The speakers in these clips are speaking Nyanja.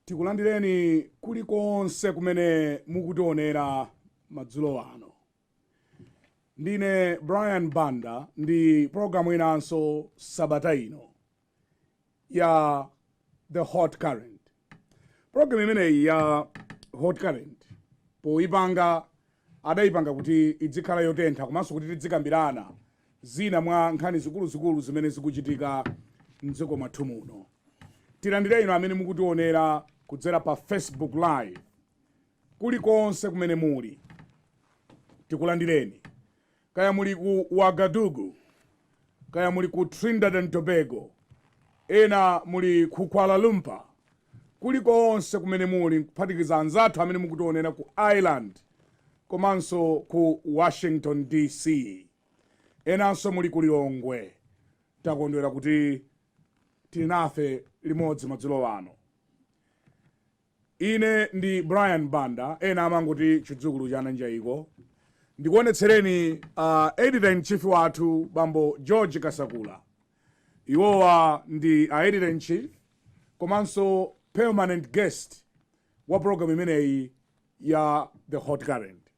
tikulandireni kulikonse kumene mukutionera madzulo ano ndine brian banda ndi programu inanso sabata ino ya the hot current program imeneyi ya hot current poyipanga adayipanga kuti idzikhala yotentha komanso kuti tidzikambirana zina mwa nkhani zikuluzikulu zimene zikuchitika mdziko mwathu muno tilandire inu amene mukutionera kudzera pa facebook live kulikonse kumene muli tikulandireni Kaya muli ku Ouagadougou, kaya muli ku Trinidad and Tobago, ena muli ku Kuala Lumpur, kulikonse kumene muli nkuphatikiza anzathu amene mukutionera ku Ireland komanso ku Washington DC, enanso muli ku Lilongwe, takondwera kuti muli nafe limodzi madzulo ano. Ine ndi Brian Banda, ena amangoti Chidzukulu cha Nanjaiko. Ndikuonetsereni a Editor in Chief wathu Bambo George Kasakula. Iwowa ndi a Editor in Chief komanso permanent guest wa program imeneyi ya The Hot Current.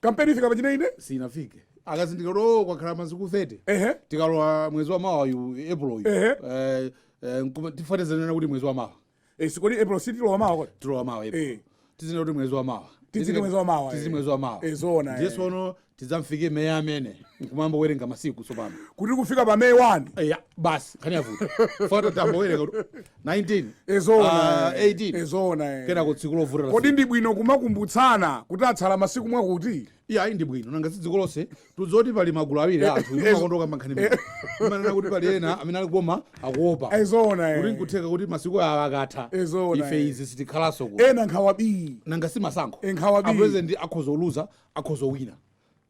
kampeni ifika pachiindeinde sinafike akazindikira kuti oh, kwakhala masiku 30 ehe tikalowa mwezi wa mawa yu april yu Ehe. Eh, eh, nkuma- tifuna tizinena kuti mwezi wa mawa Eh, sikodi april sitilowa mawa kodi tilowa mawa Eh. april tizinena kuti mwezi wa mawa Tiziti mwezi wa mawa, tizi eh. mwezi wa mawa Eh, zoona, eh. ndiye sono tidzamfike may amene nkumayamba kuwerenga masiku tsopano kuti kufika pa may 1 eya basi nkhani yavuta foto tiyamba kuwerenga kuti 19 Eh, zoona Ah, eh. 18 Eh, zoona eh. kenako tsiku lovuta kodi lafika. ndi bwino kumakumbutsana kuti atsala masiku mwakuti iyayi ndi bwino nanga si dziko lonse tidziwe kuti pali magulu awiri a anthu inu mumakonda kukamba nkhani imene mumanena kuti pali ena amene ali ku boma akuopa Eh, zoona eh. kuti nkutheka kuti masiku awa akatha Eh, zoona, ife eh. izi sitikhalanso ku ena nkhawa bii nanga si masankho Eh, nkhawa bii. apresident akhoza kuluza akhoza kuwina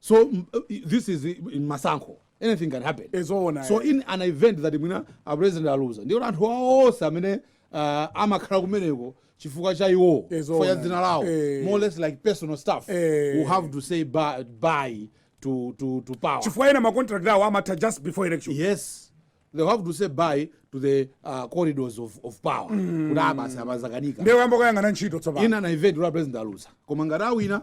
so m- i- this is i- i- masankho anything can happen Eh, zoona, so eh. in an event that mwina a president aluza ndiye anthu awo onse amene uh, amakhala kumeneko chifukwa cha iwo Eh, zoona. chifukwa cha dzina lawo Eh. more or less like personal staff Eh. who have to say bye, bye to, to, to power chifukwa ena macontract awo amatha just before election yes they have to say bye to the uh, corridors of, of power kuti abasi amazakanika ndiye ayamba kuyang'ana ntchito tsopano in an event where president aluza koma ngati awina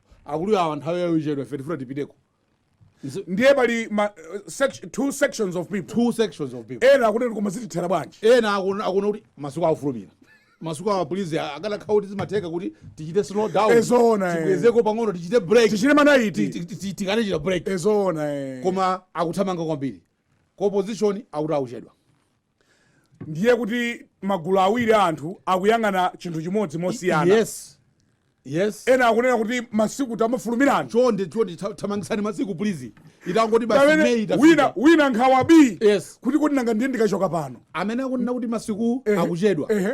akulu awa nthawi yawo ichedwa ife tifuna tipiteko Nzi- ndiye pali ma, uh, sec- two sections of people two sections of people ena akuti koma zitithera bwanji ena akuona akuona kuti masiku awufulumira masiku awa please akadakhala kuti zimatheka kuti tichite slow down Eh, zoona, eh. tikwezeko pang'ono tichite break tichite manaiti Ti- ti- ti- tikanechita break ezoona eh. koma akuthamanga kwambiri ku opposition akuti akuchedwa ndiye kuti magulu awiri a anthu akuyang'ana chinthu chimodzi mosiyana yes yes ena akunena kuti masiku tamafulumirani chonde chonde tha- thamangitsani masiku please itangoti basi Pamene May itafika. wina wina nkhawa bii Yes. kuti kodi nanga ndiye ndikachoka pano amene akunena kuti masiku Ehe. akuchedwa Ehe.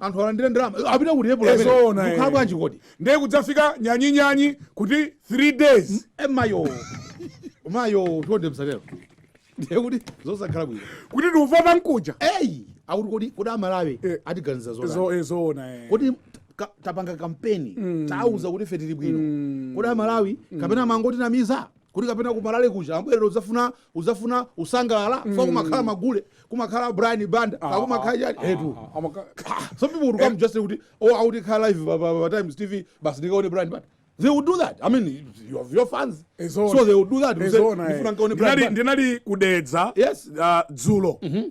anthu alandire ndalama apita kuti epulo amene Ezoona, eh. zikhala bwanji kodi ndiye kudzafika nyanyinyanyi kuti 3 days e mayo mayo chonde msatero ndiye kuti zosakhala bwino kuti tikuvota mkuja eyi akuti kodi kodi amalawi Eh. atiganiza zotani Ezo- ezoona eh. kodi ka- tapanga kampeni tauza kuti ife tili bwino kodi amalawi kapena amangotinamiza kuti kapena kuma rally kuja amabwerera udzafuna udzafuna usangalala mm. fa kumakhala magule kumakhala a Brian Banda ah, kumakhala chani ah, etu ah, ah, some people would come eh. just say kuti akuti ikhala live pa, pa, pa Times TV basi ndikaone Brian Banda they would do that i mean you have your fans so they would do that ndinali ndinali ku Dedza yes uh, dzulo mm -hmm.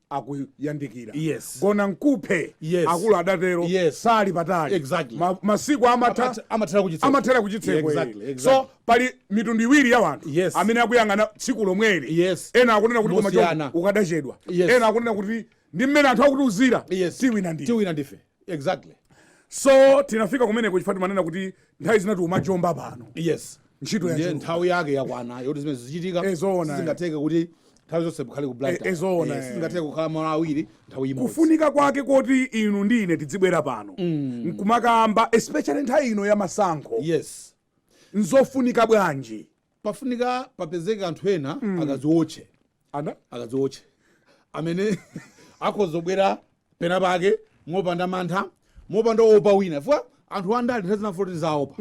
akuyandikira Yes. gona nkuphe Yes. akulu adatero Yes. sali patali Exactly. Ma- masiku amatha Amatha- amathera kuchitseko. amathera kuchitseko Yeah, exactly, eh. exactly. so pali mitundu iwiri ya wanthu Yes. amene akuyang'ana tsiku lomweli Yes. ena akunena kuti koma Mosiyana. choncho ukadachedwa Yes. ena akunena kuti ndi mmene anthu akutiuzira Yes. tiwina ndi tiwina ndife exactly so tinafika kumeneko chifukwa timanena kuti nthawi zina tiumajomba pano yes ntchito ya ndiye chuma. nthawi yake yakwana yoti zimene zichitika Eh, zoona, eh. sizingatheke kuti nthawi zonse mukhale ku Blantyre. Eh, eh, zoona, Eh, eh. sizingatheke kukhala malo awiri nthawi imodzi kufunika kwake koti inu ndi ine tidzibwera pano nkumakamba especially nthawi ino ya masankho yes nzofunika bwanji pafunika papezeke anthu ena akaziwotche ana akadziwotche amene akhoza kubwera pena pake mopanda mantha mopanda kuopa wina chifukwa anthu andale nthawi zina afuna kuti zaopa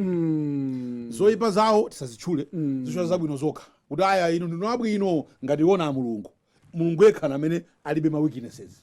zoyipa zawo tisazitchule tizitchula zabwino zokha kuti aya inu ndinu abwino ngati iwo ndi a mulungu mulungu yekha ndi amene alibe ma weaknesses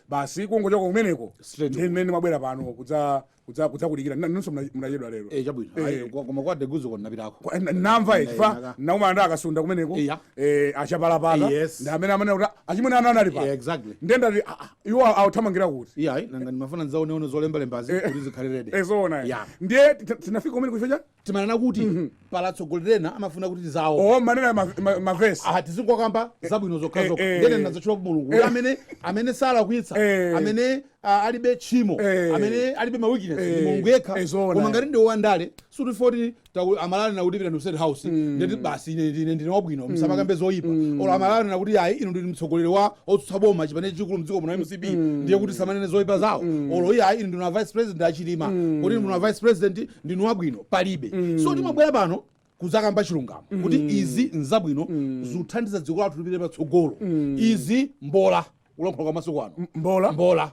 basi kungochoka kumeneko Straight ndiye mmene ndimabwera pano kudza- kudza- kudzakudikirani Nna- inunso muna- munachedwa lero Eh, chabwino Eh. Ayi, kwa- koma kwa deguzo kona napitako Kwa- n- namva Eh, chifukwa naka. nakumana ndi a Kasunda kumeneko Iya. eh, a Chapalapata Yes. ndi amene amanena kuti achimwene ana anali pa Eh, exactly ndiye ndati ah, ah, iwo awuthamangira kuti iyayi nanga ndimafuna ndidzaoneone zolembalembazi kuti zikhale ready ezoona Yeah. ndiye tina- tinafika kumeneko chifukwa timanena kuti pali atsogoleri ena amafuna kuti tizawo oh manena ma- ma- magresi aha tizingokamba zabwino zokhazokha eh, eh. ndiye ndinazatchula ku mulungu kuti amene amene salakwitsa Eh. amene ah, alibe tchimo Eh. amene alibe ma weakness Eh. ndi mulungu yekha Eh, zoona. koma ngati ndi wandale suti foti taku- amalani akuti pita ku state house ndiye kuti basi ine ndine ndine wabwino musamakambe zoyipa olo amalani akuti ayi inu ndinu mtsogoleri wa otsutsa boma chipani chachikulu mdziko muno mcp ndiye kuti tisamanene zoyipa zawo olo iye ayi inu ndinu a vice president a Chilima kuti inu ndinu a vice president ndinu wabwino palibe mm. so timabwera pano kudzakamba chilungamo mm. kuti izi nzabwino mm. zikuthandiza dziko lathu lipite patsogolo mm. izi mbola kulankhula kwa masiku ano mbola mbola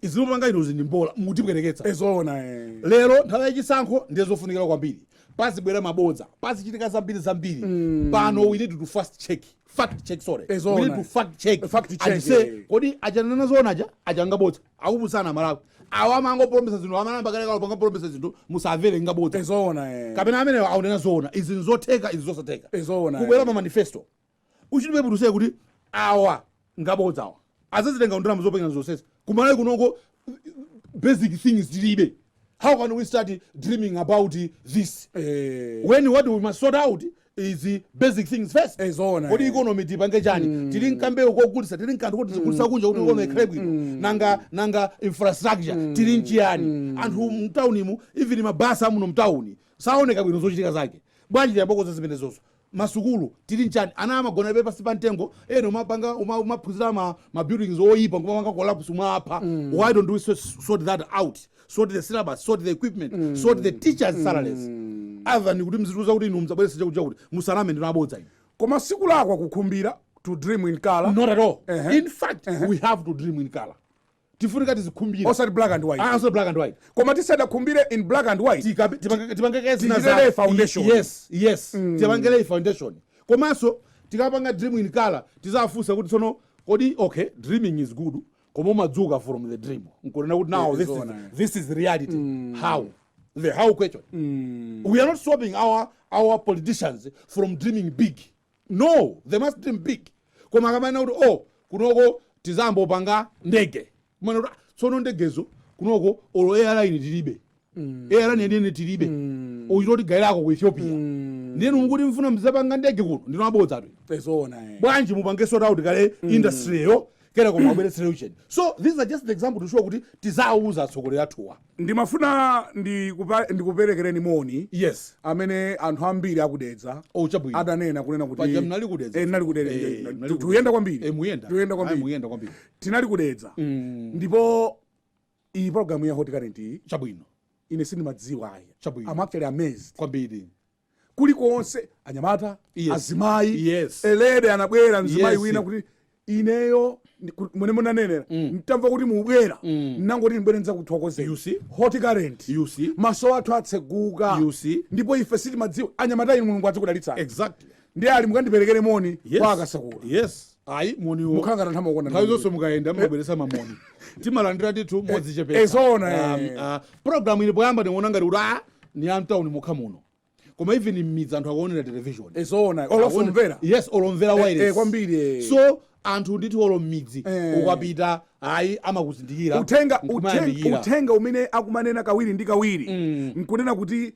izi mukupanga inuzi ndi mbola mutipweteketsa eh zoona eh. lero nthawi yachisankho ndiye zofunikira kwambiri pazibwera mabodza pazichitika zambiri zambiri mm. pano we need to fact check fact check sorry Eh, zoona. we need to fact check Fact check, and say eh. kodi akunena zoona aja apanga bodza akupusitsa amalawi awa amangopolomisa zinthu anayamba kalekalo kupolomisa zinthu musamvere ngabodza eh zoona eh. kapena amenewa akunena zoona izi nzotheka izi zosatheka Eh zoona, kubwera eh. ma manifesto uchite scrutinise kuti awa ngabodza awa azazitenga kuti ndalama zopangira zonsezi kumalawi kunoko basic things tilibe how can we start dreaming about this Eh. when what we must sort out is the basic things first Eh, zoona, kodi eh. economy tipange chani tili nkambeu kogulisa tili nkanthu kuti tigulisa kunja kuti economy ikhale bwino nanga nanga infrastructure tili nchiyani anthu mtaunimu even mabasa amuno mtauni saoneka bwino zochitika zake bwanji tiyambe takonza zimenezozo masukulu tili nchani ana amagonabe pansi pa mtengo ena umapanga uma- umaphunzira ma, ma buildings oyipa nkumapanga collapse nkumawapha why don't we so- sort that out sort the syllabus sort the equipment sort the teachers salaries other than kuti muzitiuza kuti inu muzabweresa chakuti chakuti musaname ndinu abodza inu koma sikulakwa kukhumbira to dream in color not at all Ehe. in fact we have to dream in color tifunika tizikhumbira osati black and white ah, osati black and white koma tisadakhumbire in black and white tipange kaye zina za foundation yes yes mm. tipange kaye foundation komanso tikamapanga dream in color tizafunsa kuti tsono kodi okay dreaming is good koma umadzuka from the dream nkunena kuti now this is, this is reality mm. how the how question mm. we are not stopping our our politicians from dreaming big No, they must dream big. Koma akamanena kuti oh, kunoko tizayamba kupanga ndege. Kumanena kuti ah, tsono ndegezo kunoko olo airline tilibe. Mm. Airline yeniyeni tilibe. Mm. Akuchita kutigairako ku Ethiopia. Mm. Ndiye mukuti mufuna muzapanga ndege kuno ndinu abodzatu. Eh zoona. Eh. Bwanji mupange sort out kaye mm. industry yokwera koma abweretse aviation. So these are just the example to show kuti tiziwauza atsogoleri athuwa. Ndimafuna ndikupa, ndikuperekereni moni yes umene anthu ambiri a ku Dedza oh chabwino adanena kunena kuti paja munali ku Dedza eh, munali ku Dedza Eh, eh, munali tu- ku Dedza. tuyenda kwambiri eh muyenda tuyenda Ayi, kwambiri muyenda kwambiri tinali ku Dedza mm. ndipo iyi program ya hot current iyi chabwino ine sindimadziwa ayi chabwino i'm actually amazed kwambiri kulikonse anyamata yes. azimayi yes. a lady anabwera mzimayi yes. wina kuti ineyo mmene munanenera mm. ntamva kuti mubwera mm. nangoti ndibwere nizakuthokozeni hot current maso athu atseguka ndipo ife sitimadziwa anyamata inu mulungu adzikudalitsani exactly. ndiye ali mukandiperekere moni yes. kwa a Kasakula yes ayi moniwo mukhala ngati amakonda nthawi zonse mukayenda mukabweresa mamoni timalandira ndithu modzichepesa eh zoona ah, eh, eh. ah, program ilipo yamba ndikuona ngati kuti ah, ni a mtauni mokha muno koma even mmidzi anthu akuonera television Eh, zoona olo Akuone- somvera yes olo omvera Eh, eh, wireless kwambiri eh. so anthu ndithu olo mmidzi Eh. ukapita ayi amakuzindikira uthenga, uthenga, nkumayamikira. uthenga umene akumanena kawiri ndi kawiri Mm. nkunena kuti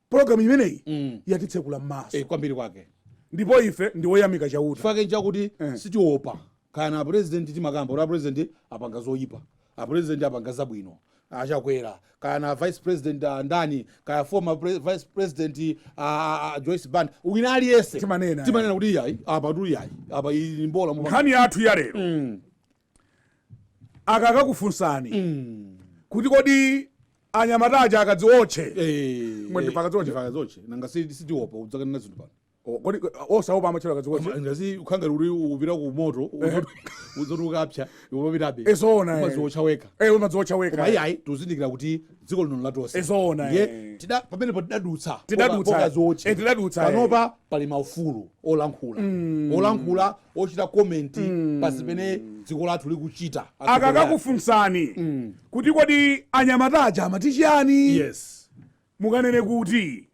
pologalamu imeneyi Mm. yatitsekula m'maso Eh, kwambiri kwake ndipo ife ndi oyamika chauta chifukwa chake nchakuti Eh. sitiopa kaya ndi a president timakamba kuti a president apanga zoyipa a president apanga zabwino a Chakwera kaya ndi a vice president uh, ndani kaya former pre vice president uh, a Joyce Banda wina aliyense Timanena. timanena kuti iyayi apatu iyayi apa iyi ni mbola mupanga. nkhani yathu ya lero Mm. akakakufunsani kuti kodi anyamata aja akadziotche Eh, Mwendi pa kadziotche. ndi pa kadziotche nanga si- sitiopa udzakanena zinthu pano O- kodi osaopa amatchera kadziotche Koma ngati ukhala uli upita ku moto zoti ukapsa umapitabe Eh zoona, eh. umadziotcha wekha ee umadziotcha koma wekha iyayi tuzindikira kuti dziko lino ni la tonse Eh zoona, Ndiye eh. tida- pamenepo tidadutsa Tidadutsa, pa ka- pa kadziotche. eh, tidadutsa, eh. panopa pali maufulu olankhula olankhula ochita komenti pa zimene dziko lathu likuchita akakakufunsani kuti kodi anyamata aja amati chiyani yes mukanene kuti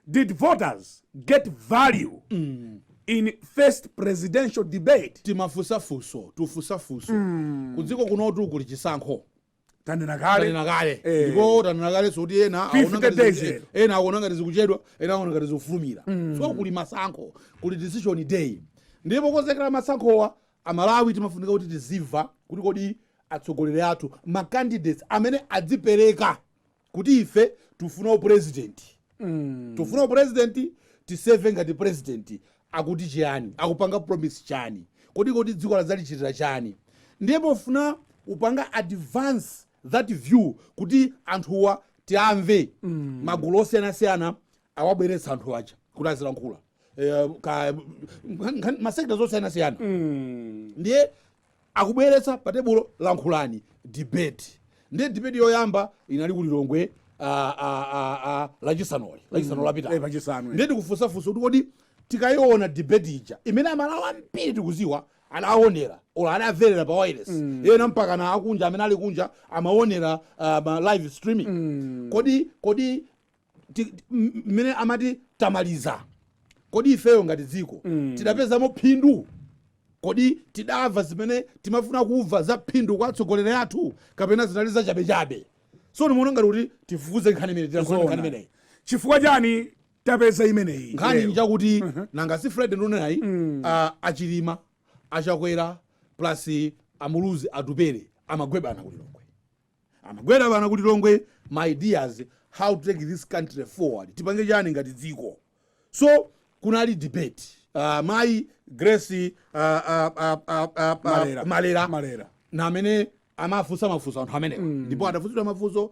did voters get value mm. in first presidential debate timafunsa funso tufunsa funso mm. kudziko kunotu kuli chisankho tanena kale tanena kale eh. ndipo tanena kale moti ena ena akuona ngati zikuchedwa ena akuona ngati zikufulumira mm. so kuli masankho kuli decision day ndipo pokonzekera masankhowa aMalawi timafunika kuti tidziwe kuti kodi atsogoleri athu macandidates amene adzipereka kuti ife tufuna upulezidenti mm. tufuna upulezidenti tiseve ngati pulezidenti akuti chiyani akupanga promise chani kodi kodi dziko azalichitira chani ndiye pofuna kupanga advance that view kuti anthuwa tiamve mm. magulu osiyanasiyana awabweretsa anthu aja kuti azilankhula eh, ka- nkhan- nkhan- masekta osiyanasiyana mm. ndiye akubweretsa pa tebulo lankhulani debate ndiye debate yoyamba inali ku lilongwe ah, ah, ah, ah, lachisanu li lachisanu Eh, lapita lachisanu, eh. ndiye tikufunsa funso kuti kodi tikayiona debate ija imene amalawi ambiri tikuziwa adaonera or adamverera pa wireless ena mpaka na akunja amene ali kunja amaonera ah, ma live streaming kodi kodi ti- ti- m- mmene amati tamaliza kodi ifeyo ngati dziko tidapezamo phindu kodi tidamva zimene timafuna kumva za phindu kwa atsogoleri athu kapena zinali zachabechabe so ndimuona ngati kuti tifufuze nkhani imene tilankhula nkhani Zoona. imeneyi chifukwa chani tapeza imeneyi nkhani lero? njakuti nanga si fred nunayi ah, achilima achakwera plus amuluzi atupere amagwebana kulilongwe Amagwera bana ku Lilongwe ma ideas how to take this country forward. Tipange chani ngati dziko. So kunali debate. Uh, mayi Grace uh, uh, uh, uh, uh, Malera. Malera. Malera. Na amene amafunsa mafunso anthu amenewa mm. ndipo adafunsidwa mafunso uh,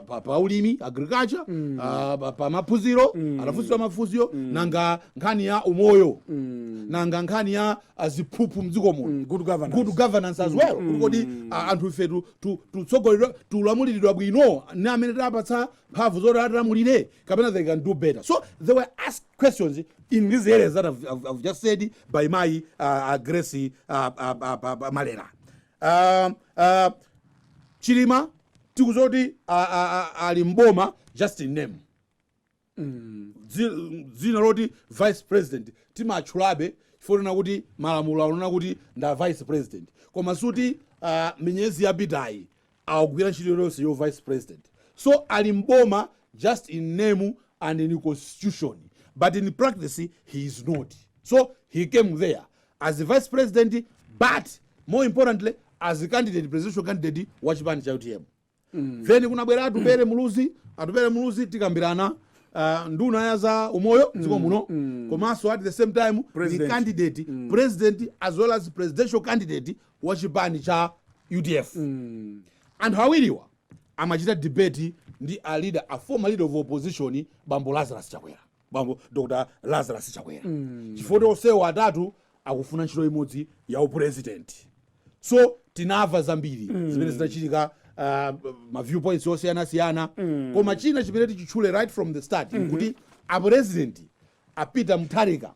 pa, pa ulimi agriculture mm. uh, pa, pa maphunziro mm. adafunsidwa mafunso mm. nanga nkhani ya umoyo mm. nanga nkhani ya ziphuphu mdziko muno Mm, good governance. good governance as well kuti kodi a- anthu ife tu- tu- tutsogoleredwa tulamuliridwa bwino ni amene tapatsa mphamvu zoti atilamulire kapena they can do better so they were asked questions in these areas that i've, I've, I've just said by mayi uh, uh, grace uh, uh, uh, uh, uh, malera um, uh, chilima tikudziwa zoti ali mboma just in name dzi- dzina loti vice president timatchulabe chifukwa kuti malamulo akunena kuti ndi a vice president koma suti ah, minyezi yapitayi akugwira ntchito yonse yo vice president so ali mboma just in name and in constitution but in practice he is not so he came there as a vice president but more importantly as a candidate presidential candidate wa chipani cha utm mm. then kunabwera atupere muluzi atupere muluzi tikambirana Uh, ndi nduna ya za umoyo mdziko mm, muno mm. komanso at the same time ni President. candidate president as well as presidential candidate wa chipani cha udf anthu awiriwa amachita debate ndi a leader a former leader of opposition bambo lazarus chakwera bambo dr lazarus chakwera chifukwa kuti onsewo atatu akufuna ntchito imodzi ya upurezidenti so tinamva zambiri zimene zinachitika uh, ma viewpoints osiyanasiyana koma china chimene tichitchule right from the start nkuti apurezidenti a peter mutharika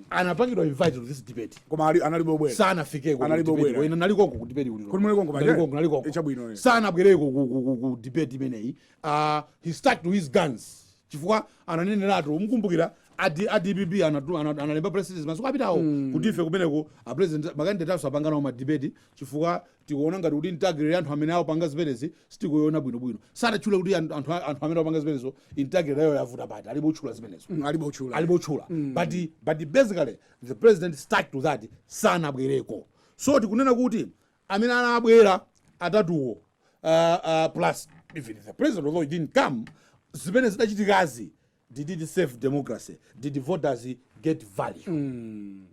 anapangidwa invite to this debate koma ali- analibe obwera sanafikeko Analibe obwera. inu munaliko konko ku debate Kuli muli konko, baje? Nalikoko, nalikoko. Eh chabwino, eh. sanabwereko ku- ku- ku- ku debate imeneyi uh, he stuck to his guns chifukwa ananeneratu mukumbukira a DPP anatu- ana- analemba president masiku apitawo kuti ife kumeneko apresident makandidate athu sapanga nawo ma debate chifukwa tikuona ngati kuti integrity anthu amene akupanga zimenezi sitikuiona bwinobwino sanatchule kuti anthu anthu- anthu amene apanga zimenezo integrity yawo yavuta pati alibe kutchula zimenezo Mm, alibe kutchula alibe kutchula but, but basically the president stuck to that sanabwereko so tikunena kuti amene anabwera atatuwo uh, uh, plus even the president although he didn't come zimene zidachitikazi did it serve democracy did the voters get value mm.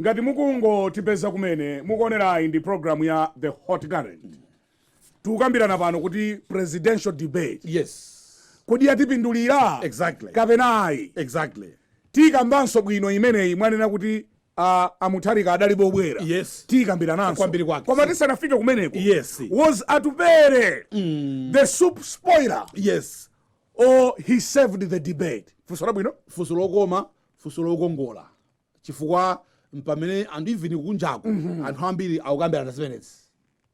ngati mukungotipeza kumene mukuonerayi ndi programu ya the hot current mm. tikukambirana pano kuti presidential debate yes kodi yatipindulira exactly kapena ayi exactly tikambanso bwino imeneyi mwanena kuti a, a Mutharika adalibe kubwera Yes. tikambirananso Kwambiri kwake. koma tisanafike kumeneko Yes. was atupere the soup spoiler yes or he saved the debate funso labwino funso lokoma funso lokongola chifukwa mpamene anthu even kunjaku anthu ambiri akukambirana zimenezi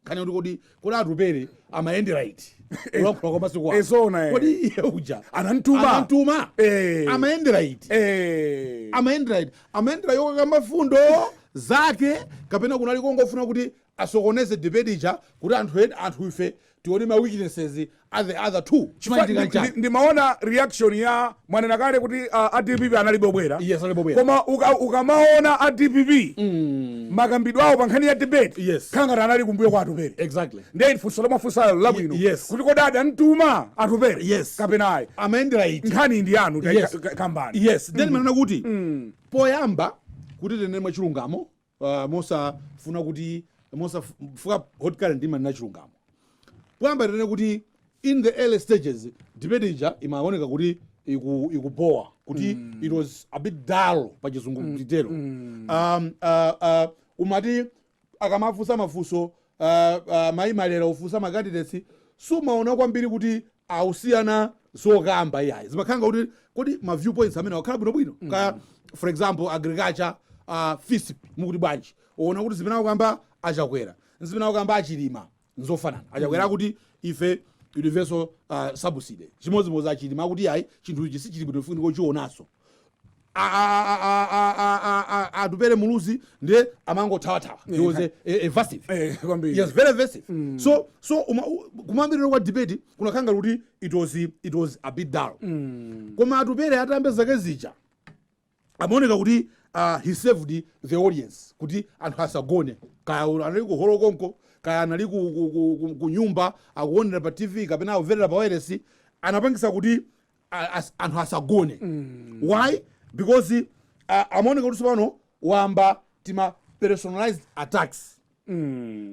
nkhani yoti kodi kodi atupere amayendera iti kulankhula kwa masiku ano. Eh, zoona, eh. kodi iye uja Anamtuma. anamtuma Eh. amayendera iti Eh. amayendera iti amayendera yokakamba mfundo zake kapena kunali kongofuna kuti asokoneze debate ija kuti anthu ena anthu ife tione ma weaknesses a the other two chimachitika chani ndimaona reaction ya mwanena kale kuti uh, a dpp analibe kubwera yes analibe kubwera koma uka, ukamaona a dpp mm. makambidwe awo pa nkhani ya debate yes kukhala ngati anali kumbuyo kwa atupere exactly ndiye funso lomwe mwafunsalo labwino yes kuti kodi adamtuma atupere yes kapena ayi amayendera iti nkhani ndi yanu yes. kambani yes then mm. manena kuti mm. poyamba kuti tinene mwachilungamo uh, mosafuna kuti mosafuna hot current imanena chilungamo poyamba tinene kuti in the early stages debate ija imaoneka kuti iku- ikubowa kuti it was a bit dull pa chizungu nditero um, uh, uh, umati akamafunsa mafunso uh, uh, mayi malera kufunsa ma candidates sumaona kwambiri kuti akusiyana zokamba iyayi zimakhala ngakuti kodi ma viewpoints amene akhala bwinobwino kaya for example agriculture uh, fisp mukuti bwanji uona kuti zimene akukamba achakwera nzimene akukamba achilima nzofanana achakwera akuti ife universal uh, subsidy chimodzimodzi achilima akuti ayi chinthu ichi sichili bwino funika kuchionaso atupele muluzi ndiye amangothawathawa he was a, a, evasive Eh, kwambiri. yes very evasive so so uma- u- kumayambiriro kwa debate kunakhala ngati kuti it was it was a bit dull koma atupele atayamba zake zija amaoneka kuti uh, he saved the audience kuti anthu asagone kaya u- anali ku holo konko kaya anali ku, ku, ku, ku, ku nyumba akuonera pa tv kapena akumvera pa wireless anapangisa kuti a- as- anthu asagone why because a- amaoneka kuti tsopano wayamba tima personalized attacks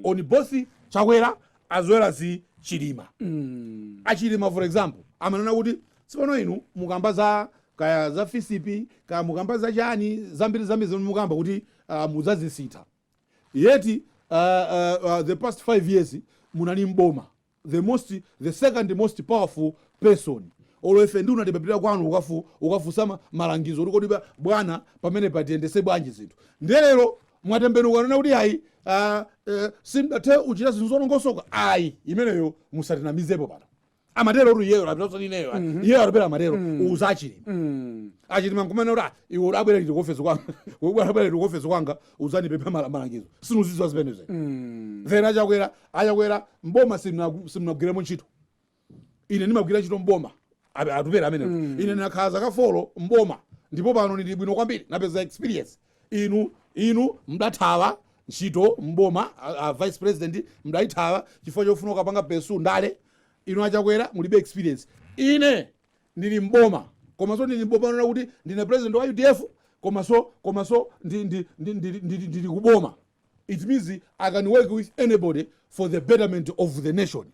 on both chakwera as well as chilima achilima for example amanena kuti tsopano inu mukamba za kaya za fisp kaya mukamba za chani zambiri zambiri zimene mukamba kuti uh, mudzazisintha yet uh, uh, uh, the past five years munali mboma the most the second most powerful person olo ife nduna timapita kwanu ukafu ukafunsa ma- malangizo kuti kodi ba- bwana pamenepa tiyendetse bwanji zinthu ndiye lero mwatembenuka kunena kuti ayi uh, uh, sindidathe uchita zinthu zolongosoka ayi imeneyo musatinamizepo pano amatero kuti iyeyo amapita osati ineyo ayi. iyeyo atupele amatero uza achilima Mm. achilima nkumanena kuti "Ah, iwe udabwera liti kuofesi kwanga udabwera liti kuofesi kwanga uzandipempha malangizo sindizidziwa zimenezo Mm. then achakwera A Chakwera m'boma simunagwiremo ntchito. Ine ndimagwira ntchito m'boma atupele amenewo. Mm. Ine ndinakhala zaka folo m'boma ndipo pano ndili bwino kwambiri napeza experience. Inu inu mdathawa ntchito m'boma a, vice president mdaithawa chifukwa chofuna ukapanga pesu ndale. Inu a Chakwera mulibe experience. Ine ndili m'boma komanso ndili m'boma kunena kuti ndine president wa UDF komanso komanso ndili kuboma. It means i can work with anybody for the betterment of the nation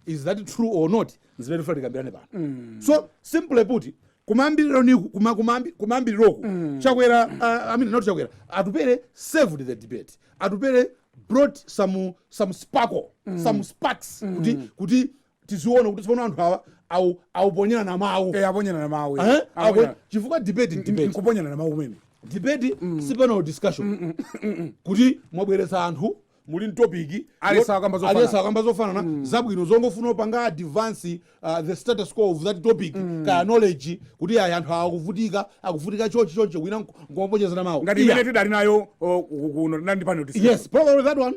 is that true or not nzimene tifuna tikambirane pano mm. so simply put kumayambiriroku kuma, kumayambi- kumayambiriroku mm. chakwera uh, I mean, not chakwera atupere saved the debate atupere brought some, some sparkle mm. some sparks mm. kuti, kuti tiziona kuti tsopano anthu awa au- akuponyerana mawu Eh, aponyerana mawu eh. Eh? Apo- Aponyerana. chifukwa debate ndi debate nkuponyerana mawu kumene debate si panel discussion kuti mwabweretsa anthu muli ndi topiki Aliyense akamba zofanana. aliyense akamba zofanana zabwino zongofuna kupanga advance uh, the status quo of that topic kaya knowledge kuti ayi anthu awa akuvutika akuvutika chonchi chonchi osati nkumaponyerana mawu ngati Yeah. imene tidali nayo oh, ku- kuno tinali ndi panel discussion. yes probably that one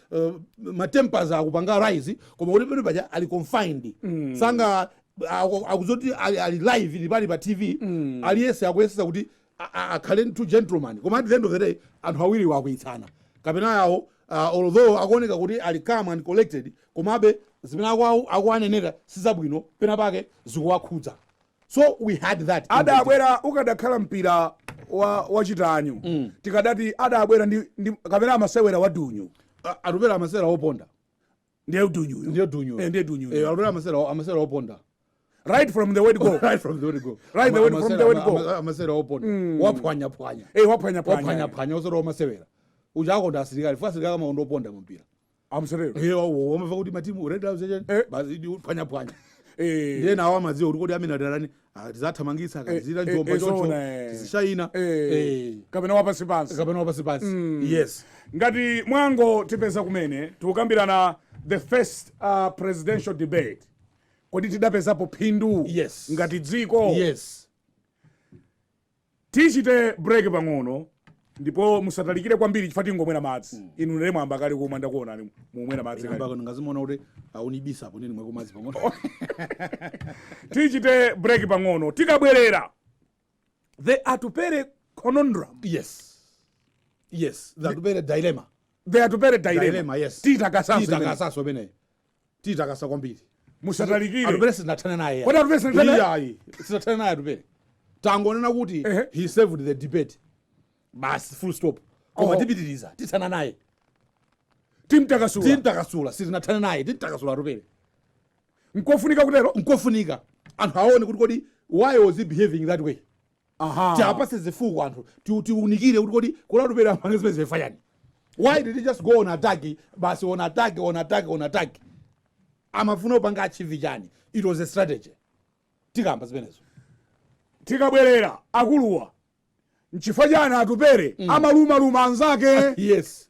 uh, matempers akupanga rise koma kuti pena pake ali confined mm. sanga aku- akudziwa zoti ali, ali live ili pali pa tv mm. aliyense akuyesetsa kuti a- a- akhale ngati gentleman koma at the end of the day anthu awiri akukwiyitsana kapena iwowo uh, although akuoneka kuti ali calm and collected komabe zimene akwawo akuwanenera sizabwino pena pake zikuwakhudza so we had that adabwera ukadakhala mpira wa chitanyu mm. tikadati adabwera ndi, ndi kapena amasewera wa dunyu atupele amasewera woponda ndiye dunyu ndiye dunyu eh, ndiye dunyu eh, atupele amasewera amasewera woponda right from the word go right from the word go right the word from the word go amasewera woponda mm. waphwanyaphwanya eh waphwanyaphwanya waphwanyaphwanya osoro amasewera uja amakonda asilikali chifukwa asilikali amakonda woponda mpira amsirero iye wawo wamva kuti matimu red arrows eche Eh. basi ndi phwanyaphwanya Eh. ndiye nawo amadziwa kuti kodi amene adalani tizathamangitsa Eh, akatizira eh, njomba eh, choncho zona, eh. tizishaina Eh. Eh. kapena wapansi pansi kapena wapansi pansi yes ngati Malawi tipeze kumene tikukambirana the first uh, presidential debate kodi tidapezapo phindu Yes. ngati dziko yes Tichite break pang'ono ndipo musatalikire kwambiri chifukwa tingomwera madzi mm. inu ndiye mwayamba kale kumwa ndakuonani mukumwera madzi kale ndangozimuona kuti akundibisa apo nane ndimweko madzi pang'ono tichite break pang'ono tikabwerera the atupele conundrum yes yes the atupele dilemma the atupele dilemma, dilemma yes titakasanso imeneyo titakasa kwambiri musatalikire atupele sitinathane naye Kodi Atupele sitinathane naye? ayi sitinathane naye atupele tangonena kuti Ehe. he saved the debate basi full stop koma Oh. tipitiriza tithana naye timtakasula timtakasula sitinathane naye timtakasula atupele nkofunika kutero nkofunika anthu aone kuti kodi why was he behaving that way Aha. tiwapatse zifukwa anthu ti- tiunikire kuti kodi kodi atupele amapanga zimene zija chifukwa chani why did he just go on attack basi on attack on attack on attack amafuna kupanga achieve chani it was a strategy tikamba zimenezo tikabwerera akuluwa nchifukwa chani atupele amalumaluma anzake yes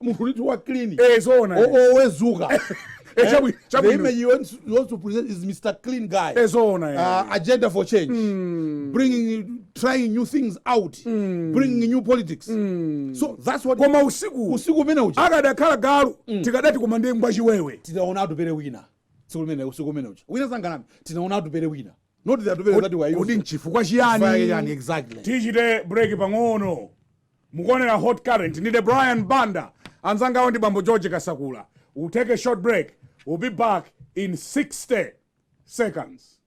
munthu uti wa clean eh zoona eh. O- always suka Eh, chabu- the chabwino. image you want, you want to present is mr clean guy Eh, zoona eh. uh, agenda for change bringing trying new things out bringing new politics so that's what koma usiku usiku umene uja akadakhala galu tikadati koma ndi ngwachiwewe tinaona atupele wina tsiku limene usiku umene uja wina asanganame tinaona atupele wina not the atupele that we are used kodi nchifukwa chiyani Chifukwa chiyani, exactly tichite break pang'ono mukuonera hot current ndine brian banda anzangawa ndi bambo george kasakula we'll take a short break we'll be back in 60 seconds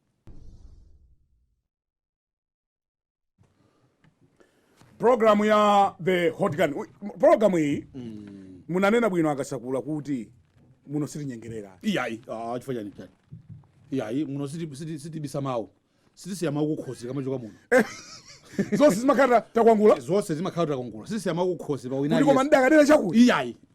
programu ya the hot current Uy, m- programu iyi munanena bwino akasakula kuti muno sitinyengerera iyayi ah, chifukwa chani chani iyayi muno siti- siti- sitibisa mawu sitisiya mawu kukhosi tikamachoka muno zonse zimakhala takwangula zonse zimakhala takwangula sitisiya mawu kukhosi pa kuti koma wina ndidakadera chakuti iyayi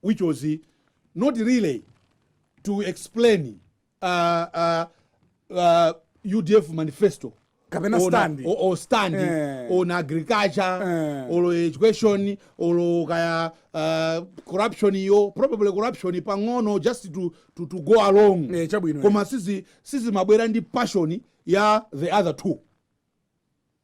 which was not really to explain uh, uh, uh, udf manifesto Kapena Or na- stand. or, or stand Eh. on agriculture Eh. or education or kaya uh, corruption yo probably corruption pang'ono just to, to, to go along Eh, chabwino, eh. koma sizi sizimabwera ndi passion ya the other two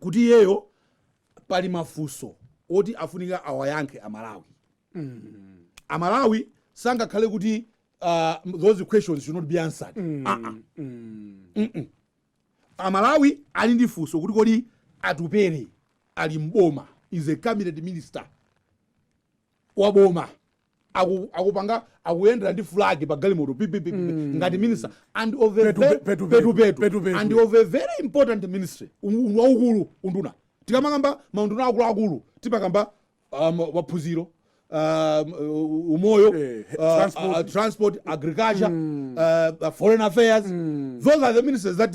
kuti iyeyo pali mafunso oti afunika awayankhe amalawi amalawi sangakhale kuti uh, those questions should not be answered mm. uh -uh. amalawi ali ndi funso kuti kodi atupele ali mboma is a cabinet minister wa boma aku- akupanga akuyendera ndi flag pa galimoto pipipipi ngati minister and of a Petu- very- petu- petu- petu- petu- petu. and of a very important ministry Un- un- waukulu unduna tikamakamba maunduna akuluakulu timakamba um, maphunziro um, uh, umoyo Eh, uh, transport. uh, transport agriculture uh, uh, foreign affairs those are the ministers that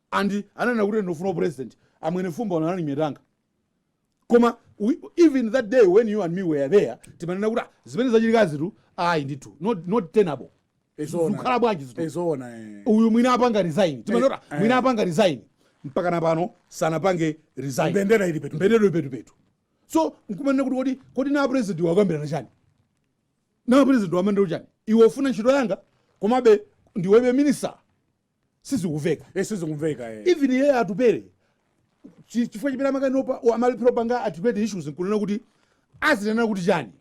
and ananena kuti ndufuna upresident amwene fumba uno anali myetanga koma we, even that day when you and me were there timanena kuti "Ah, zimene zachitikazitu ayi ndithu not, not tenable Ee zoona. zikhala bwanji zitu ee zoona eh. uyu mwina apanga resign timanena kuti "Ah, mwina apanga resign mpaka napano sanapange resign mbendera ili petu mbendera ili petupetu so nkumanena kuti kodi kodi na president wakambirana chani na president wamandira chani iwe ufuna ntchito yanga komabe ndiwebe minister sizikuveka Eh, sizikumveka eh. even iye atupele chi- chifukwa chimene amakanika amalephera panga articulate issues nkunena kuti azinena kuti chani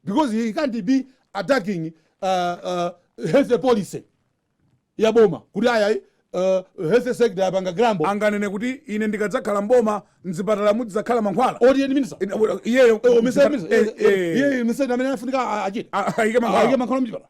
because he can't be attacking uh, uh, health policy ya boma kuti ayayi uh, health sector yapanga crumble anganene kuti ine ndikadzakhala mboma mzipatala mudzakhala mankhwala oti iye ndi minister Ine- u- iyeyo Eh, omiseni minister. Eh, Eh, eh, eh, iye minister amene afunika a- achite Ah, ayike mankhwala. ayike mankhwala mchipatala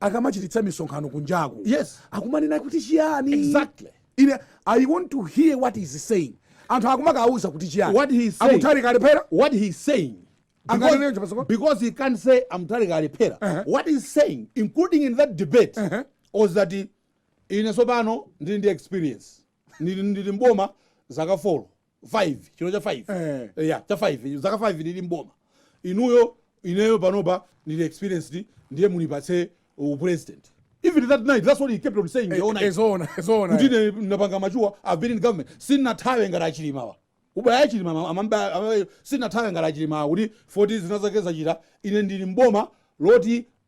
akamachititsa misonkhano kunjaku Yes. akumanena kuti chiyani Exactly. ine i want to hear what he is saying anthu akumakauza kuti chiyani What he is saying. a Mutharika alephera What he is saying. Because, because he can't say a Mutharika alephera. Uh-huh. What he's saying, including in that debate, Uh-huh. was that he, ine tsopano ndili ndi experience ndili ndili mboma zaka 4 5 chino cha 5 Eh. Eh, ya cha 5 zaka 5 ndili mboma inuyo ineyo panopa nili experienced ndiye munipatse upresident even that night that's what he kept on saying the whole night ee zoona ee zoona kuti ine napanga mature i've been in government sinathawe ngati achilimawa ubaya achilima ama- amamba- ama- sinathawe ngati achilimawa kuti 40 zinazake zachita ine ndili mboma loti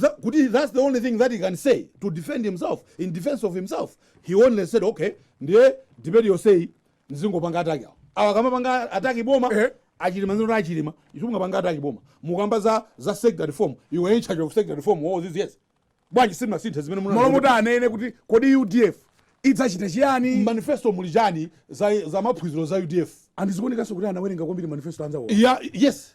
tha kuti that's the only thing that he can say to defend himself in defense of himself he only said okay ndiye debate yonseyi ndizingopanga attack awo awa akamapanga attack boma Eh. achilima nzino achilima simungapange attack boma mukamba za za sector reform you were in charge of sector reform all these years bwanji simunasinthe zimene muna- mmalo moti anene kuti kodi udf idzachita chiyani manifesto muli chani za, za maphunziro za udf and zikuonekanso kuti anawerenga kwambiri manifesto anzawo ya yes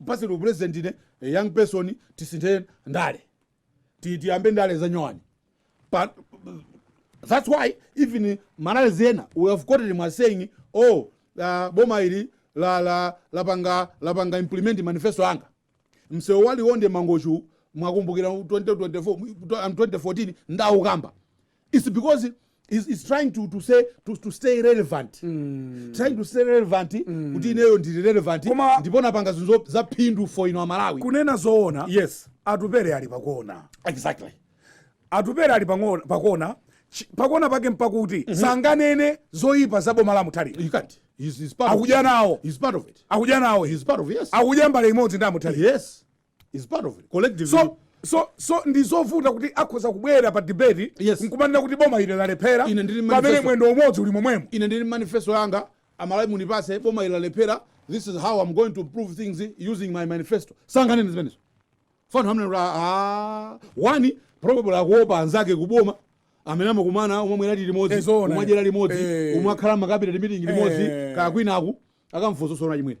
Mpatseni upresident ine a young person tisinthe ndale. Ti tiyambe ndale za nyowani. But that's why even ma rallies ena we have quoted him as saying oh uh, boma ili la la lapanga lapanga implement manifesto anga. Msewu waliwonde Mangochi mwakumbukira 2024 mu- 2014 ndinawukamba. it's because he's, he's trying to, to say to, to stay relevant mm. trying to stay relevant mm. kuti ineyo ndili relevant Koma- ndipo napanga zinthu zo- za phindu for inu Amalawi kunena zoona yes atupere ali pakona exactly atupere ali pang'ona- pakona chi- pakona pake mpakuti sanganene zoyipa za boma la Mutharika you can't he's, he's part of akudya nawo he's part of it akudya nawo he's part of yes akudya mbale imodzi ndi a Mutharika yes he's part of it collective so so so ndizovuta kuti akhoza kubwera pa debate yes. nkumanena kuti boma ili lalephera pamene mwendo umodzi uli momwemo ine ndili manifesto yanga amalawi mundipatse boma ili lalephera this is how i'm going to improve things using my manifesto sanganene zimenezo for now number ah one probably akuopa anzake kuboma amene amakumana amamwera limodzi eh, amadyera limodzi eh. amakhala ma cabinet meeting limodzi eh. kaya kwinaku akamfuso sona chimwene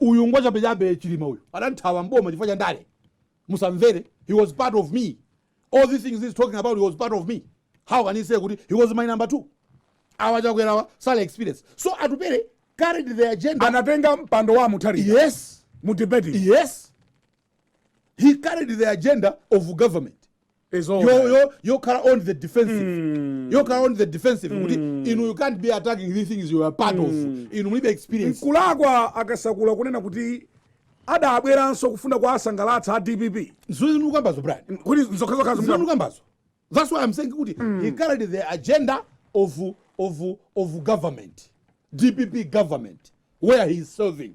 Uyu ngwachabe chabe chilima uyu adanthawa m'boma chifukwa cha ndale musamvere he was part of me all these things he's talking about he was part of me how can he say kuti he was my number 2 awa chakwerawa sali experience so atupere carried the agenda anatenga mpando wa mutharika yes mu debate yes he carried the agenda of government It's all yo- right. yo- yokhala on the defensive Mm. yokhala on the defensive kuti Mm. inu you can't be attacking these things you are part of Mm. inu mulibe experience nkulakwa a Kasakula kunena kuti adabweranso kufuna kuwasangalatsa a dpp zimene mukambazo Brian kuti nzokhazokhazo zimene mukambazo that's why i'm saying kuti he carried the agenda of, of, of government dpp government where he is serving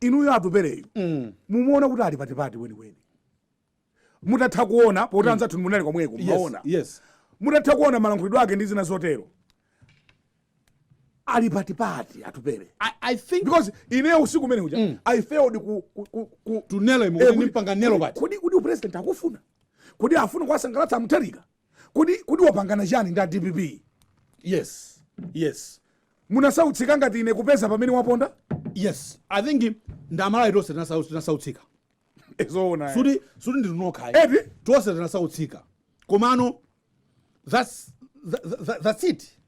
inuyo Atupereyu mm. mumuona kuti ali patipati kwenikweni mutatha kuona poti mm. anzathu munali komweko mumaona yes, yes. mutatha kuona malankhulidwe ake ndi zina zotero ali patipati Atupere I, I think because ine usiku umene uja mm. i failed ku, ku, ku, ku to nail him eh, kumpanga nail pati kodi kodi president akufuna kodi afuna kwasangalatsa a Mutharika kodi kodi wapangana chani ndi a dpp yes yes munasautsika ngati ine kupeza pamene waponda yes i think nd'Amalawi tonse tinasau- tinasautsika zoona eh. sikuti sikuti ndinu nokha Eti? tonse tinasautsika komano that's, tha- tha- tha- that's it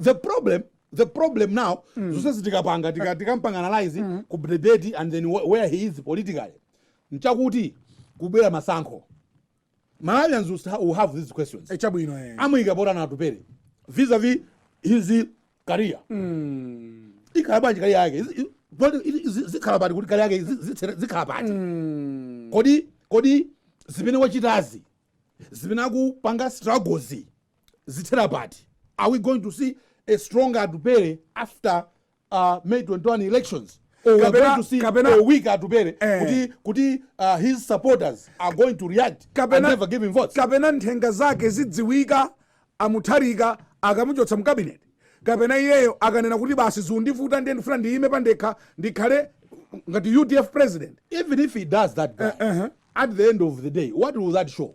the problem the problem now zonse zi tikapanga tika- tikampanga analyze ku debate and then wh- where he is politically nchakuti kubwera masankho malawians will sta- will have these questions Eh, chabwino eh. amuyika pati nanga atupere vis-a-vis his career Mm. ikhala bwanji career yake Izi- i- poti ili- izi- zikhala pati kuti career yake izi- zithere- zikhala pati Mm. kodi kodi zimene wachitazi zimene akupanga struggles zithera pati are we going to see a stronger atupere after after May 21 elections or we are going to see kapena, a weaker atupere eh, kuti, kuti uh, his supporters are going to react kapena, and never give him votes kapena mphamvu zake zidziwika amutharika akamuchotsa mu cabinet kapena iyeyo akanena kuti basi zundivuta ndiye ndifuna ndiyime pandekha ndikhale ngati udf president even if he does that guy, uh, eh, -huh. Eh. at the end of the day what will that show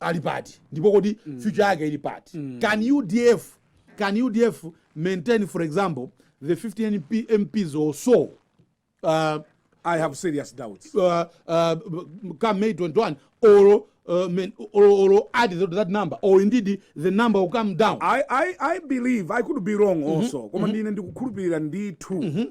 ali pati ndipo kodi mm. future yake ili pati mm. can udf can udf maintain for example the 50 MP, mps or so uh, i have serious doubts uh, uh, come may 21 or Uh, men, or, or add that, that number or indeed the number will come down i, I, I believe i could be wrong mm -hmm. also koma mm -hmm. ndine ndikukhulupirira ndithu mm -hmm.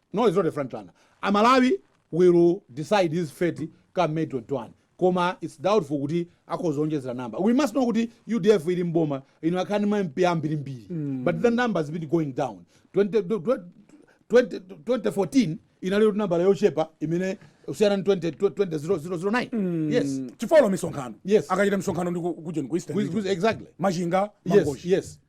No it's not a front runner, aMalawi will decide his fate come May 21 koma it's doubtful kuti akhoza kuonjezera number. We must know kuti udf ili m'boma inakhala ndi ma MP ambirimbiri but the number has been going down 20, 20, 2014 inali kuti nambala yochepa imene kusiyana ndi 20 2009 yes chifukwa olo misonkhano Yes. akachita misonkhano ndi ku- kujeni ku eastern With- region. with- exactly machinga yes mangochi yes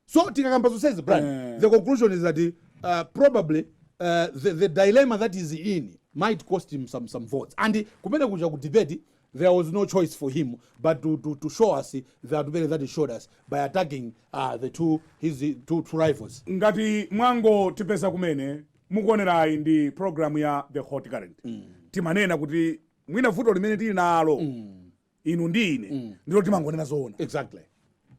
so tikakamba zonsezi brad Eh. the conclusion is that uh, probably uh, the, the dilemma that is in might cost him some, some votes and kumene kuja ku debate there was no choice for him but to, to, to show us the advantage that he showed us by attacking uh, the two his uh, two, two rivals ngati mwango tipeza kumene mukuonerayi ndi programu ya the hot current timanena kuti mwina vuto limene tili nalo inu ndi ine mm. ndilo timangonena zoona exactly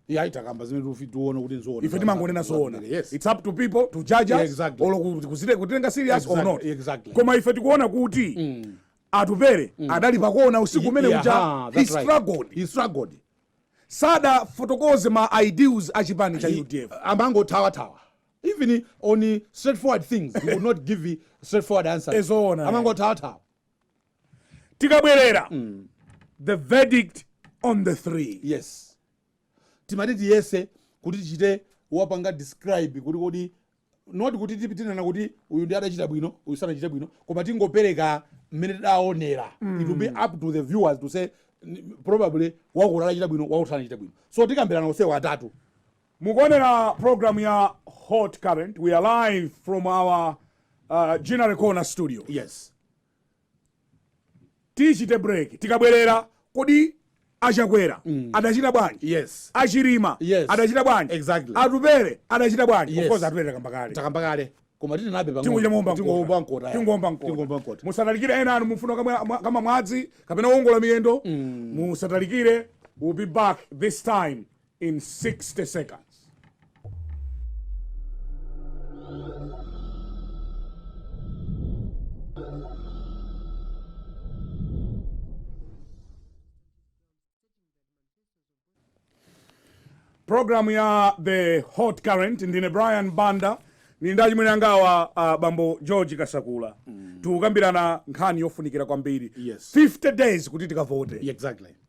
iye akamba zimene ife tiona kuti nzoona ife timangonena zoona yes it's up to people to judge us exactly. or kuzite kutenga serious exactly. or not exactly. koma ife tikuona kuti mm. atupere mm. adali pakona usiku umene yeah, uja he struggled right. he struggled sadafotokoze ma ideals a chipani cha udf amangotawatawa even on straightforward things he would not give straightforward answers amangotawatawa tikabwerera mm. the verdict on the three yes timati tiyese kuti tichite wapange describe kuti kodi not kuti tizinena kuti uyu ndiye adachita bwino uyu sanachita bwino koma tingopereka mmene tidaonera mm. it will be up to the viewers to say probably wakuti adachita bwino wakuti sanachita bwino so tikambirana onsewo atatu Mukuonera program ya hot current we are live from our uh, Ginnery Corner studio. Yes. Tichite break. Tikabwerera kodi a Chakwera mm. adachita bwanji yes. a Chilima yes. adachita bwanji exactly. atupere adachita bwanji yes. of course atupere takamba kale takamba kale koma tinenabe pang'ono tingomba mkota musatalikire ena a inu mufuna kamwa madzi kapena kuwongola miyendo mm. musatalikire we'll be back this time in 60 seconds. program ya the hot current ndine brian banda ndili ndi achimwene angawa uh, bambo george kasakula mm. tikukambirana nkhani yofunikira kwambiri Yes. 50 days kuti tikavote exactly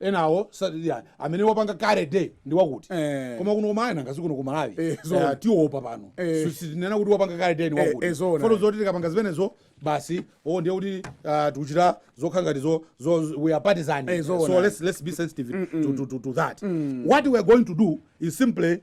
enawo sa- ya, amene wapanga kale debate ndi wakuti Eh. koma kuno kumayiko ngati kuno ku malawi Eh, Eh, zoona. tiopa pano Eh. Si- sitinena kuti wapanga kale debate ndi Eh, wakuti eh, zoona. poti zoti tikapanga zimenezo basi o ndiye kuti ah, tikuchita zokhala ngati zo zo- we are partisan Eh, zoona. so let's let's be sensitive to, to, to, to that what we are going to do is simply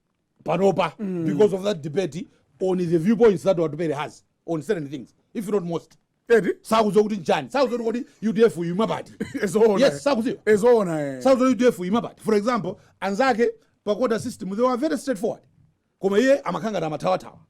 panopa mm. because of that debate on the viewpoints that atupere has on certain things if not most sakuziwa kuti nchani sakuziwa kuti kodi udf imaima pati yes sakuziwa eh. sakuziwa kuti udf imaima pati for example anzake pa quota system they were very straightforward koma iye amakhala ngati amathawathawa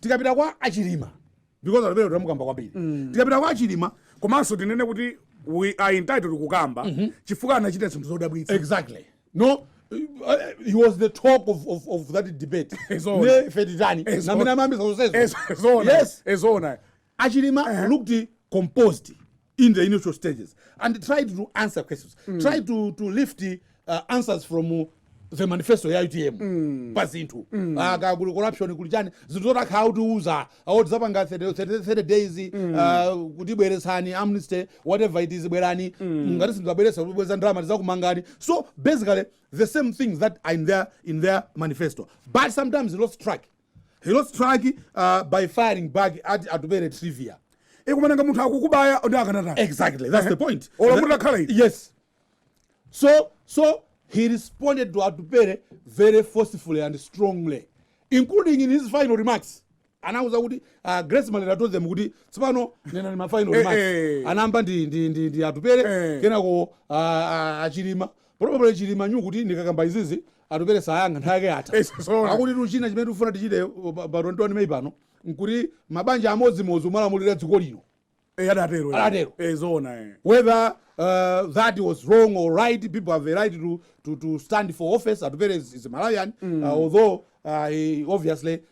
tikapita kwa achilima because atupere tamukamba kwambiri mm. tikapita kwa achilima komanso tinene kuti we are entitled kukamba mm -hmm. chifukwa anachita zinthu zodabwitsa exactly no Uh, he was the talk of, of, of that debate ne feditani namene amambiza zonsezo yes eh zoona achilima uh -huh. looked composed in the initial stages and tried to answer questions mm. tried to, to lift uh, answers from uh, the manifesto ya utm mm. pa zinthu mm. aka ah, kuli corruption kuli chani zinthu zoti akhala akutiuza awo tizapanga 30 days mm. ah, kutibweretsani amnesty whatever it is bwerani mm. ngati simuzabweretsa kubweza ndalama tizakumangani so basically the same things that are in their, in their manifesto but sometimes lost track He lost track uh, by firing back at Atupele trivia. nanga munthu akukubaya nde akanatani Exactly, that's the point. Ola That- kuti akhala iti. Yes. So, so he responded to Atupele very forcefully and strongly, including in his final remarks. anauza kuti uh, grace malera told them kuti tsopano nenani ma final Eh, remarks eh. anayamba ndi, ndi, ndi, ndi atupele Eh. kenako uh, achilima Probably Chilima knew kuti ndikakamba izizi atupere sayankha nthawi yake yatha. Yes, so- Akuti chinthu china chimene tifuna tichite uh, pa pa 21 May pano nkuti mabanja amodzimodzi kumalamulira dziko lino. Eh, adatero. eh. Adatero. Eh, zoona eh. Whether uh, that was wrong or right, people have a right to, to, to stand for office. Atupere is, is a Malawian, uh, although uh, he obviously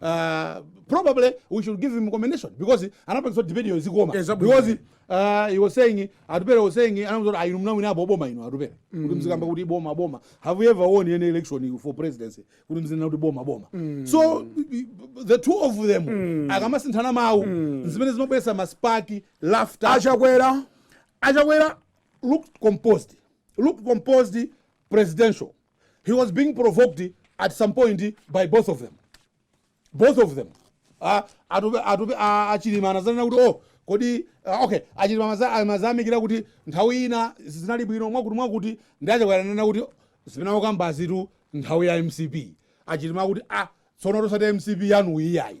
uh, probably we should give him commendation because anapangisa debate yo izikoma Eh, zabwino. because uh, he was saying atupere was saying anamuuza kuti ayi munawinapo boma inu atupere kuti mzikamba kuti boma boma have you ever won any election for presidency kuti mzinena kuti boma boma so the two of them akamasinthana mawu zimene zimabweresa maspaki laughter achakwera achakwera looked composed looked composed presidential he was being provoked at some point by both of them both of them Ah, atupe atupe ah, achilima anazanena kuti oh kodi ah, okay achilima amaya- amayamikira kuti nthawi ina zinali bwino mwakuti mwakuti ndi achakwera ananena kuti zimene akukambazitu nthawi ya mcp achilima akuti ah tsono osati mcp yanu iyayi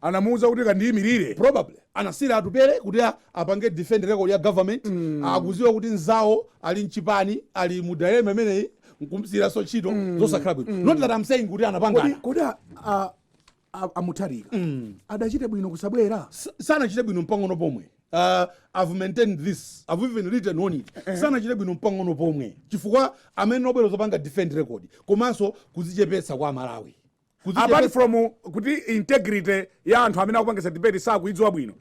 anamuuza kuti kandiimilire probably anasiira atupele kuti a- apange defend record ya government akuziwa kuti nzawo ali mchipani ali mu dilemma imeneyi nkumsiiraso ntchito zosakhala bwino not that i'm saying kuti kodi anapangana kodi a- a- a- amutharika adachita bwino kusabwera S- sanachite bwino mpang'ono pomwe uh, i've maintained this i've even written on it sanachite bwino mpang'ono pomwe chifukwa amene obwera zopanga defend record komanso kuzichepetsa kwa malawi apart from kuti integrity ya anthu amene akupangisa debate sakuidziwa bwino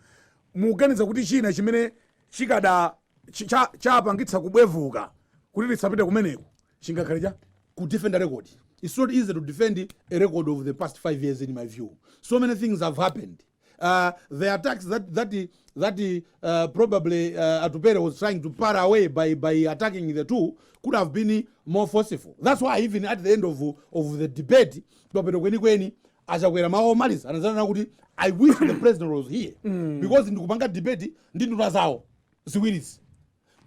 mukuganiza kuti china chimene chikada chapangitsa kubwevuka kuti asapite kumeneko chingakhale cha kudefend a record it's not easy to defend a record of the past five years in my view so many things have happened Uh, the attacks that that that uh, probably uh, Atupere was trying to parry away by by attacking the two could have been more forceful. That's why even at the end of of the debate, komwe kwenikweni achakwera mawu omaliza anadzanena kuti I wish the president was here mm. because ndikupanga debate ndi nduna zawo ziwirizi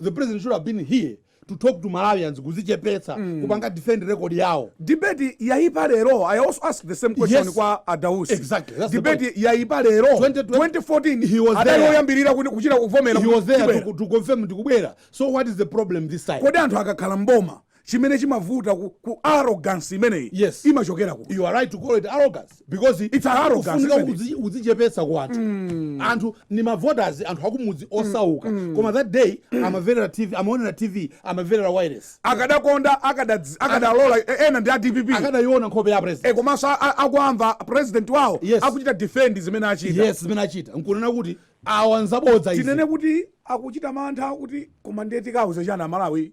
the president should have been here to talk to malawians kuzichepetsa mm. kupanga defend record yawo debate yaipa lero i also ask the same question yes. kwa adausi exactly. That's debate yaipa lero 2014 adali oyambirira kuchita confirm he was there to, to confirm ndikubwera so what is the problem this time kodi anthu akakhala mboma chimene chimavuta ku, ku arrogance imeneyi Yes. imachokera ku you are right to call it arrogance because It's an arrogance, kufunika isn't it? kuzi- kudzichepetsa kwa anthu anthu ndi mavoters anthu akumudzi osauka koma that day amamverera tv amaonera tv amamverera wireless akadakonda akadadz- akadalola e- ena ndi a dpp akadayiona nkhope ya president e komanso a- a- akuamva president wawo Yes. akuchita defend zimene achita yes zimene achita nkunena kuti awa nzabodza izi tinene kuti akuchita mantha kuti koma ndiye tikauza chani amalawi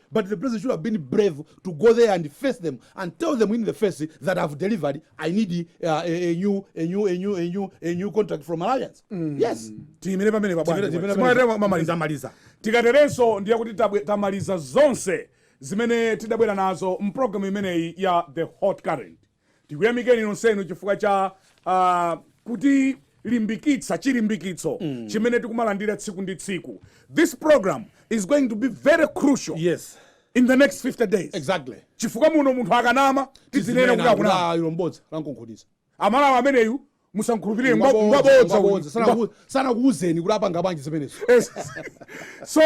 but the president should have been brave to go there and face them and tell them in the face that i've delivered i need uh, a, a, new, a, new, a, new, a, new, a new contract from malawians mm. yes tiyimire pamenepa bwana. Tiyimire- tiyimire Simwatero pamene. tamaliza maliza tikaterenso ndiye kuti tabwe- tamaliza zonse zimene tidabwera nazo mpulogalamu imeneyi ya the hot current tikuyamikeni nonsenu chifukwa cha uh, kutilimbikitsa chilimbikitso mm. chimene tikumalandira tsiku ndi tsiku this program is going to be very crucial yes in the next 50 days exactly chifukwa muno munthu akanama tizinena kuti akunama ilo bodza lamkunkhuniza amalawi ameneyu musamkhulupirire ngwa- Ngwabodza, ngwabodza uyu. ngwabodza. Asanaku- asanakuuzeni kuti apanga bwanji zimenezo Yes. so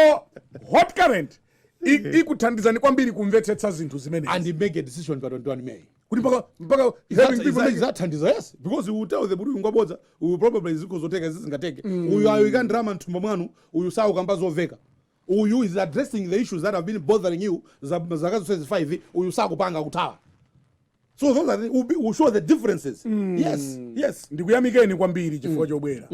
hot current i- ikuthandizani kwambiri kumvetsetsa zinthu zimene and make a decision pa 21 may kuti mpaka mpaka having people make- izathandiza yes because you tell them kuti ngwabodza uyu probably zikhoza kutheka izi zingatheke uyu ayika ndalama mthumba mwanu uyu saukamba zoveka uyu is addressing the issues that have been bothering you za- zaka zonse zifive uyu sakupanga kuthawa so those are the, will, be, will show the differences mm. yes yes ndikuyamikeni kwambiri chifukwa chobwera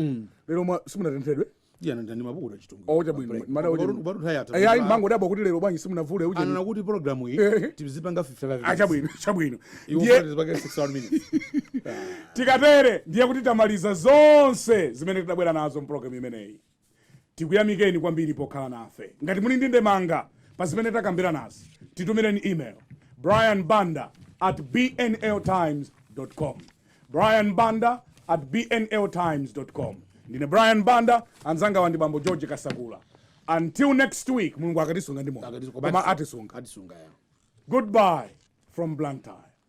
lero mwa- simunatenthedwe yana ndani mabuku tachitunga Oh, chabwino. Mada kuti- baru tayata Eh, ayi mango dabwa kuti lero bwanji simunavule uje anana kuti program iyi Eh. tizipanga 55 Ah, chabwino chabwino Iwo ndiye tizipanga 61 minutes tikatere ndiye kuti tamaliza zonse zimene tidabwera nazo mprogram imeneyi Tikuyamikeni kwambiri pokhala nafe. Ngati muli ndi ndemanga pa zimene takambiranazi, titumireni email, brian banda at bnl times com, brian banda at bnl times com. Ndine brian banda, anzangawa ndi bambo george kasakula. until next week mulungu akatisunga ndi moyo Akatisunga, koma koma atisunga. atisunga, atisunga, yeah. goodbye from blantyre